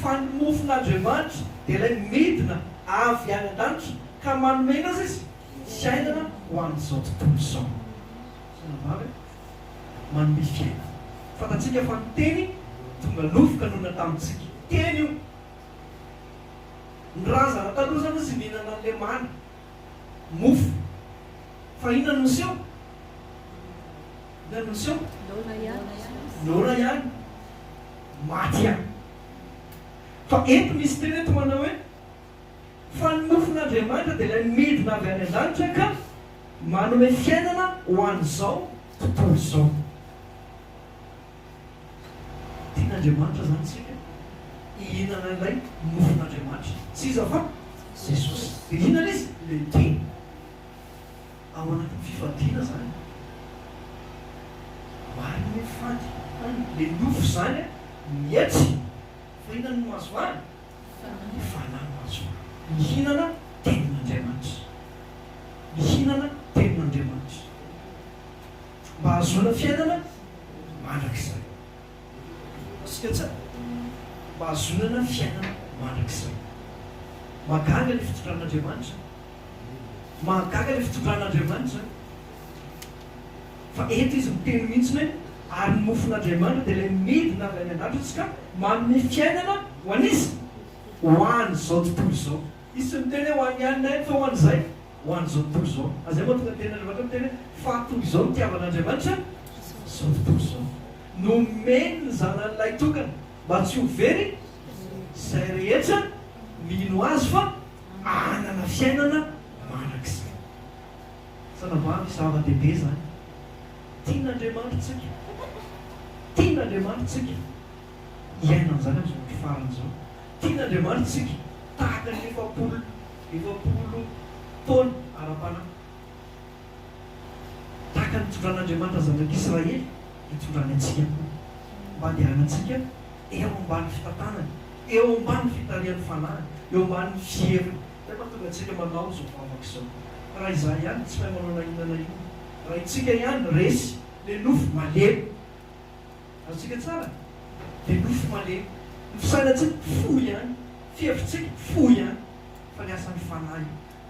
fa ny mofon'Andriamanitra dia ilay midina avy any an-danitra ka manome ny azy izy fiainana ho an'izao tontolo izao. Tena maro e! Manome fiainana. Fantatsika fa ny Teny tonga nofo ka nonina tamintsika. Teny io. Ny razana taloha izany hozy nihinana ny lemana. mofo. Fa inona no niseho? Inona no niseho? Noana ihany. Noana ihany. Maty ihany. Fa eto misy teny eto manao hoe, Fa ny mofon'Andriamanitra dia ilay midina avy any an-danitra ka manome fiainana ho an'izao tontolo izao. Tian'Andriamanitra zany tsika hihinana ilay nofon'Andriamanitra. Tsy iza fa Jesosy. Dia hihinana izy? Le tia. Ao anatin'ny fifadiana zany. Marina hoe fady. Any le nofo zany mietsy. Fa inona no mahazo ahy? Ny fanahy no mahazo ahy. Mihinana tenin'Andriamanitra. Mihinana tenin'Andriamanitra. Mba hahazoana fiainana mandrakizay. Hitantsika tsara? Mba hahazoana fiainana mandrakizay. Mahagaga ilay fitondran'Andriamanitra. Mahagaga ilay fitondran'Andriamanitra. Fa eto Izy miteny mihitsy hoe, Ary ny mofon'Andriamanitra dia ilay midina avy any an-datrtsy ka manome fiainana ho an'iza? Ho an'izao tontolo izao. Izy tsy niteny hoe ho an'ny any na iny fa ho an'izay ho an'izao tontolo izao. Ary izay mahatonga ny Tenin'Andriamanitra miteny hoe, Fa toy izao nitiavan'Andriamanitra izao tontolo izao, nomeny ny Zanany Lahitokana, mba tsy ho very izay rehetra mino Azy, fa hanana fiainana mandrakizay. Tena vavy zava-dehibe izany. Tian'Andriamanitra isika. Tian'Andriamanitra isika. hiaina an'izany amin'izao andro farany izao. Tian'Andriamanitra isika tahaka ny efapolo efapolo taona ara-panahy. Tahaka ny nitondran'Andriamanitra zanak'Israely, hitondrany antsika koa, mba handehanantsika eo ambany fitantanany, eo ambany fitarihan'ny fanahiny, eo ambany fiheviny. Izay mahatonga antsika manao izao vavaka izao. Raha izaho ihany, tsy mahay manao na inona na inona. Raha isika ihany, resy, le nofo, malemy. Azontsika tsara dia nofo malemy. Ny fisainantsika fohy ihany, fihevitrtsika fohy ihany, fa ny asan'ny Fanahy,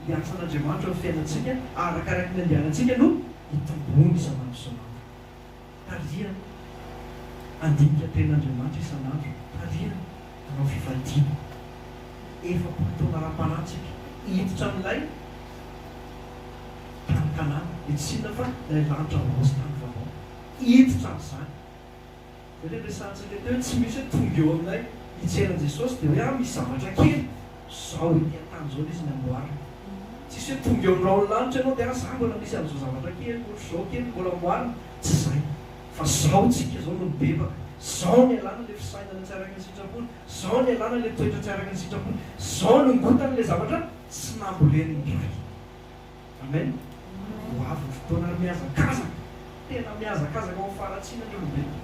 ny asan'Andriamanitra amin'ny fiainantsika arakaraky ny andianantsika no itombony isan'andro isan'andro. Tarihana handinika Tenin'Andriamanitra isan'andro, tarihana hanao fifadiana. Efapolo taona ara-panahintsika hiditra amin'ilay tany Kanana, dia tsy inona fa ilay lanitra vaovao sy tany vaovao. Hiditra amin'izany. Izay ilay resahantsika teo hoe tsy misy hoe tonga eo aminay hijery an'i Jesosy dia hoe ah misy zavatra kely izao ety an-tany izao ilay izy namboarina. Tsisy hoe tonga eo amin'ny rahon'ny lanitra ianao dia ah izaho mbola misy an'izao zavatra kely ohatr'izao kely mbola amboarina. Tsy izay. Fa izao tsika izao no mibebaka. Izao no ialana ilay fisainana tsy araka ny sitrapony. Izao no ialana ilay toetra tsy araka ny sitrapony. Izao no ingotana ilay zavatra tsy nambolen'ny Ray. Amen! Ho avy ny fotoana ary mihazakazaka, tena mihazakazaka ho faharatsiana ny olombelona.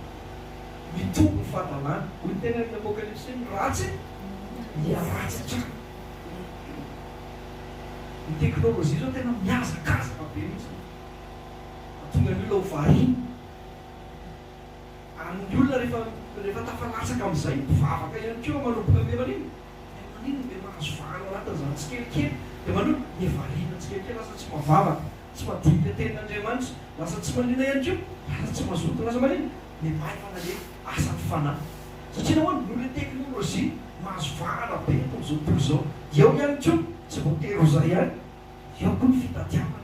Mitombo ny fahadalana. Hoy ny teny amin' ny Apokalypsy, Ny ratsy hiharatsy hatrany. Ny teknolojia izao tena mihazakazaka be mihitsy. Mahatonga ny olona ho variana. Ary ny olona rehefa rehefa tafalatsaka amin'izay, mpivavaka ihany koa manomboka miha manimba. Dia maninona ve mahazo vahana ao anatin'izany tsikelikely? Dia maninona? Dia variana tsikelikely, lasa tsy mavavaka, tsy madio ny tenin'Andriamanitra, lasa tsy maliana ihany koa, lasa tsy mazoto, lasa maninona? Dia maivana ilay asan'ny fanahy. Satria nahoana? Noho ilay teknolojia mahazo vahana be eto amin'izao tontolo izao. Dia ao ihany koa, tsy voatery ho izay ihany, dia ao koa ny fitadiavana.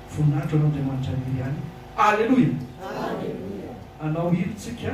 Voninahitra ho an'Andriamanitra irery ihany. Aleloia! Aleloia! Anao iry tsika.